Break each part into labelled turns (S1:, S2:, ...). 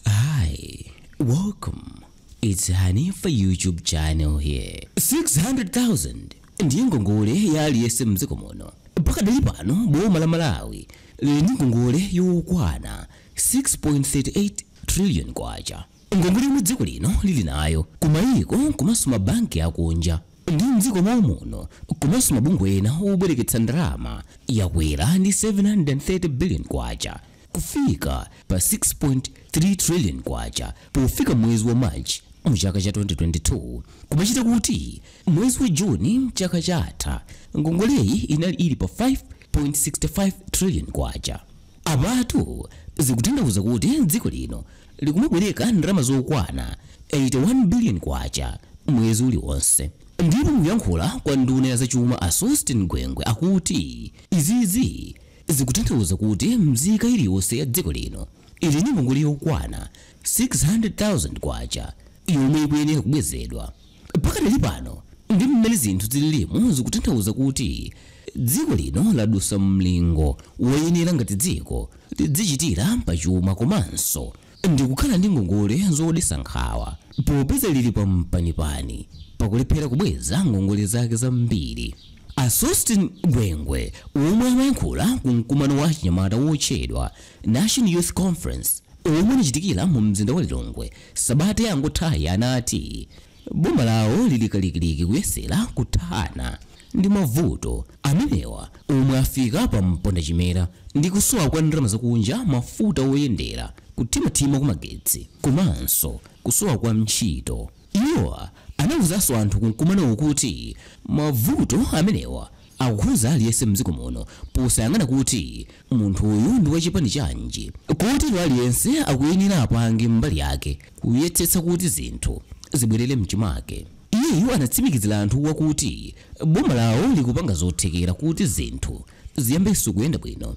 S1: Hi, welcome. It's Hanifa YouTube channel here. 600,000 ndiye ngongole ya aliyense mdziko muno. Pakadali pano boma la Malawi lili ndi ngongole yokwana 6.38 trillion kwacha. Ngongole yomwe dziko lino lili nayo kumayiko komanso mabanki akunja ndi mdziko mwa muno komanso mabungwe ena obwereketsa ndalama yakwera ndi 730 billion kwacha. kufika pa 6.3 trillion kwacha pofika mwezi wa March mu chaka cha 2022 kumachita kuti mwezi wa June chaka chatha ngongoleyi inali ili pa 5.65 trillion kwacha. Apatu zikutanthauza kuti dziko lino likumabwereka ndalama zokwana 81 billion kwacha mwezi uliwonse. Ndipo mukuyankhula kwa nduna ya zachuma a Sosten Gwengwe akuti izizi Zikutanthauza kuti mzika iliyonse ya dziko lino ili ndi ngongole yokwana 600,000 kwacha yomwe ikuyenera kubwezedwa. Pakadali pano ndi mmene zinthu zililimu zikutanthauza kuti dziko lino ladusa mlingo woyenera ngati dziko lidzichitira pa chuma komanso ndi kukhala ndi ngongole zodetsa nkhawa. Popeza lili pampanipani pa kulephera kubweza ngongole zake zambiri, a Sosten Gwengwe, omwe amayankhula ku mkumano wa achinyamata wotchedwa National Youth Conference omwe unachitikira mu mzinda wa Lilongwe sabata yangothayi anati, Boma lawo lili kalikiliki kuyesera kuthana ndi mavuto amenewa omwe afika pa mpondachimera ndi kusowa kwa ndalama zakunja, mafuta oyendera, kuthimathima kwa magetsi komanso kusowa kwa ntchito. Iwo anauzanso anthu ku mkumanowu kuti mavuto amenewa Akukhudza aliyense mdziko muno posayang'ana kuti munthuyu ndi wachipani chanji. Kotero aliyense akuyenera apange mbali yake kuyesetsa kuti zinthu zibwerere mchimake. Iyeyu anatsimikizira anthuwa kuti boma lawo likupanga zothekera kuti zinthu ziyambenso kuyenda bwino.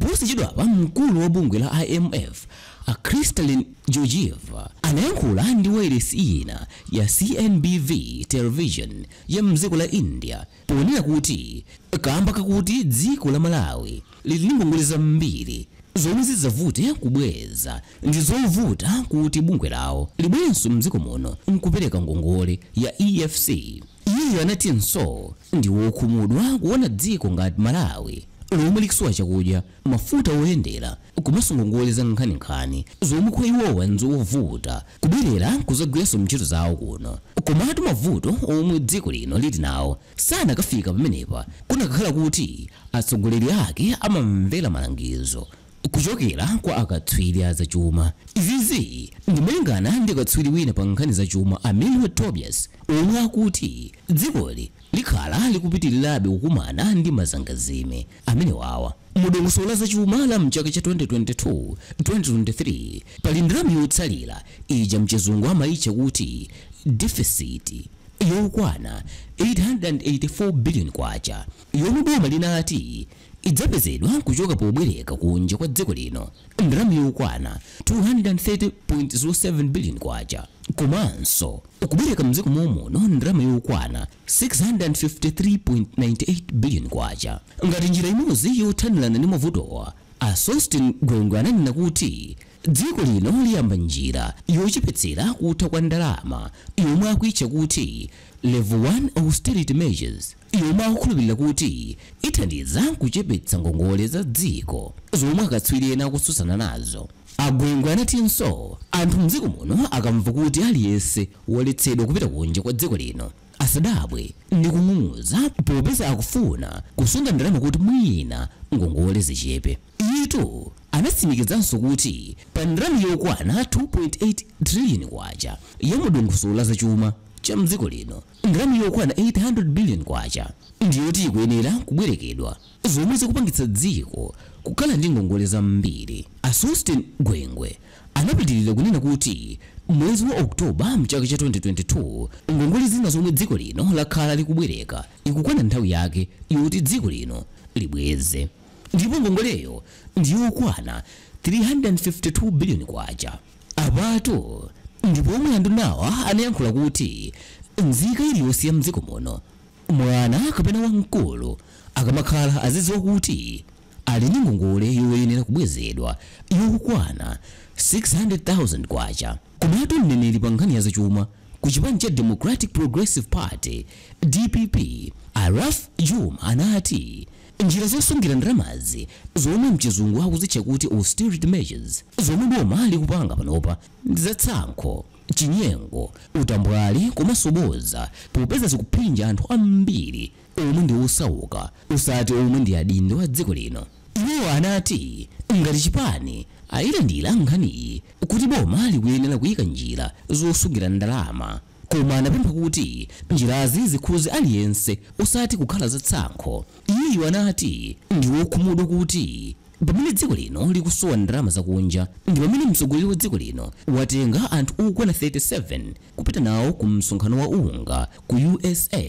S1: Posachedwapa mkulu wa bungwe la IMF a Kristalina Georgieva anayankhula ndi wailesi ina ya CNBV Television ya mdziko la India ponena kuti kaamba kakuti dziko la Malawi lili ndi ngongole zambiri zomwe zidzavute kubweza, ndi zovuta kuti bungwe lawo libwerenso mdziko muno nkupereka ngongole ya EFC. Iwo anatinso ndi wokhumudwa kuona dziko ngati Malawi lomwe likusowa chakudya, mafuta oyendera komanso ngongole zankhaninkhani zomwe kwa iwowa nzovuta kubwerera kuzagwiranso ntchito zawo kuno. Komatu mavuto omwe dziko lino lili nawo sanakafika pamenepa kunakakhala kuti atsogoleri ake amamvera malangizo Kuchokera kwa akatswiri a zachuma. Izizi ndi malingana ndi katswiri wina pa nkhani za chuma a Milward Tobias omwe akuti dzikoli likhala likupitilirabe kukumana ndi mazangazime amenewawa. Mu dongosolo la zachuma la mchaka cha 2022, 2023 pali ndalama yotsalira ija mchizungu amayitcha kuti deficit yokwana K884 billion yomwe boma linati. idzapezedwa kuchoka pobwereka kunja kwa dziko lino ndalama yokwana K230.07 biliyoni komanso kubwereka m'dziko mom'muno ndalama yokwana K653.98 biliyoni ngati njira imodzi yothanirana ndi mavutowa. A Sosten Gwengwe ananena kuti dziko lino liyamba njira yochepetsera kutha kwa ndalama yomwe akuitcha kuti Level 1 Austerity Measures. yomwe akukhulupirira kuti ithandiza kuchepetsa ngongole za dziko zomwe akatswiri ena akutsutsana nazo. A Gwengwe anatinso anthu m'dziko muno akamva kuti aliyense waletsedwa kupita kunja kwa dziko lino, asadabwe ndi kung'ung'udza popeza akufuna kusunga ndalama kuti mwina ngongole zichepe. Iyetu anatsimikizanso kuti pa ndalama yokwana K2.8 trillion ya mu dongosolo la zachuma cha m'dziko lino, Ndalama yokwana K800 billion ndi yoti ikuyenera kubwerekedwa zomwe zikupangitsa dziko kukhala ndi ngongole zambiri. A Sosten Gwengwe anapitilira kunena kuti mwezi wa October mchaka cha 2022 ngongole zina zomwe dziko lino lakhala likubwereka ikukwana nthawi yake yoti dziko lino libweze ndipo ngongoleyo ndi yokwana K352 billion. Apatu ndi pomwe andunawa anayankhula kuti nzika iliyonse ya m'dziko muno, mwana kapena wamkulu, akamakhala azidziwa kuti ali ndi ngongole yoyenera kubwezedwa yokwana K600,000. Komatu mneneri pa nkhani ya zachuma ku chipani cha Democratic Progressive Party, dpp, a Ralph Jooma anati, Njira zosungira ndalamazi zomwe mchizungu akuzitcha kuti austerity measures zomwe boma likupanga panopa ndi za tsankho, chinyengo, utambwali komanso boza popeza zikuphinja anthu ambiri omwe ndi osauka osati omwe ndi adindo a dziko lino. Iwo anati ngati chipani ayilandira nkhaniyi kuti boma likuyenera kuyika njira zosungira ndalama. Koma anapempha kuti njirazi zikhuze aliyense osati kukhala za tsankho. Iyeyu anati ndi wokhumudwa kuti pamene dziko lino likusowa ndalama za kunja ndi pamene mtsogoleri wa dziko lino watenga anthu okwana 37 kupita nawo ku msonkhano wa UNGA ku USA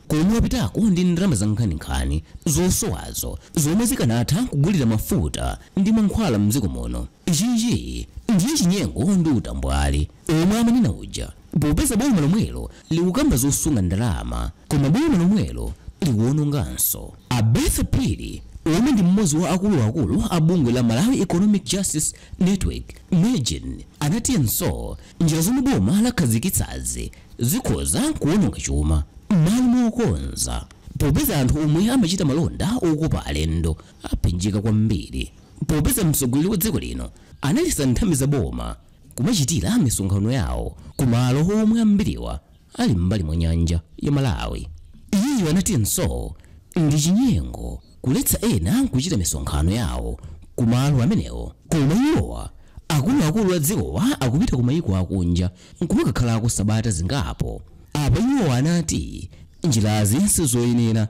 S1: komwe wapitako ndi ndalama za nkhaninkhani zosowazo zomwe zikanatha kugulira mafuta ndi mankhwala m'dziko muno. Ichichi ndiye chinyengo ndi utambwali. omwe amanena uja popeza boma lomwelo likukamba zosunga ndalama koma boma lomwelo likuononganso. A Bertha Phiri omwe ndi m'modzi wa akulu akulu a bungwe la Malawi Economic Justice Network, Mejn, anatinso njira zomwe boma lakhazikitsazi zikhoza kuononga chuma m'malo mokonza popeza anthu omwe amachita malonda okopa alendo aphinjika kwambiri popeza mtsogoleri wa dziko lino analetsa nthambi za boma. kumachitira misonkhano yawo ku malo omwe ambiriwa ali m'mbali mwa nyanja ya Malawi. Iyeyu anatinso ndi chinyengo kuletsa ena kuchita misonkhano yawo ku malo amenewo koma iwowa akuluakulu a dzikowa akupita ku mayiko akunja nkumakakhalako sabata zingapo. Apa iwowa anati njirazi sizoyenera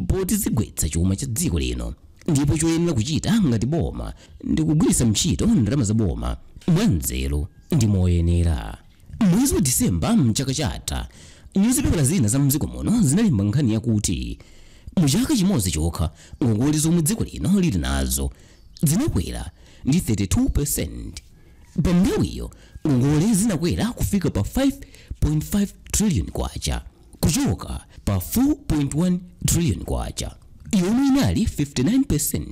S1: poti zigwetsa chuma cha dziko lino. ndipo choyenera kuchita ngati boma ndi kugwiritsa ntchito ndalama za boma mwanzeru ndi moyenera mwezi wa disemba mchaka chatha nyuzipepala zina za mdziko muno zinalemba nkhani yakuti mu chaka chimodzi chokha ngongole zomwe dziko lino lili nazo zinakwera ndi 32% pa nthawiyo ngongole zinakwera kufika pa 5.5 trillion kwacha kuchoka pa 4.1 trillion kwacha yomwe inali 59%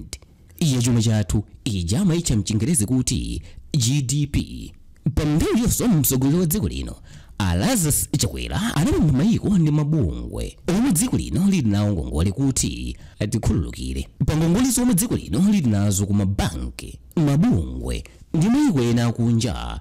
S1: ya chuma chathu ija amaitcha mchingerezi kuti gdp pa nthawiyonso mtsogoleri wa dziko lino a lazarus chakwera anapempha mayiko ndi mabungwe omwe dziko lino lili nawo ngongole kuti atikhululukire pa ngongole zomwe dziko lino lili nazo ku mabanki mabungwe ndi mayiko ena akunja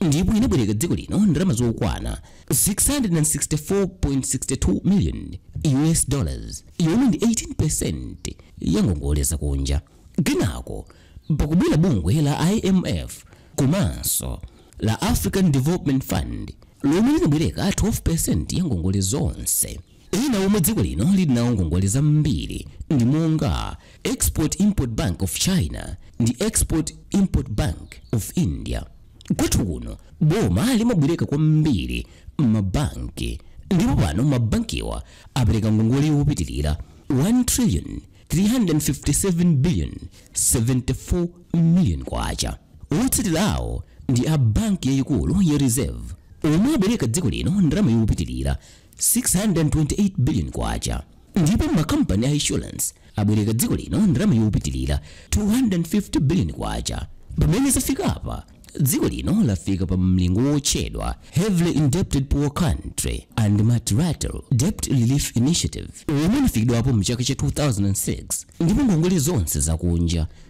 S1: ndipo inabwereka dziko lino ndalama zokwana 664.62 million US dollars yomwe ndi 18% ya ngongole zakunja kenako pakubwera bungwe la IMF komanso la African Development Fund lomwe linabwereka 12% ya ngongole zonse Ena omwe dziko lino lili nawo ngongole zambiri ndi monga Export-Import Bank of China ndi Export-Import Bank of India. Kwathu kuno, boma limabwereka kwambiri m'mabanki ndipo pano mabankiwa apereka ngongole yopitirira 1 trillion 357 billion 74 million kwacha. Otsatirawo ndi a banki yayikulu ya Reserve omwe abwereka dziko lino ndalama yopitirira 628 billion kwacha ndipo makampani a insurance abwereka dziko lino ndalama yopitilira 250 billion kwacha pamene zafikapa dziko lino lafika pa mlingo wotchedwa heavily indebted poor country and multilateral debt relief initiative omwe unafikidwapo mchaka cha 2006 ndipo ngongole zonse zakunja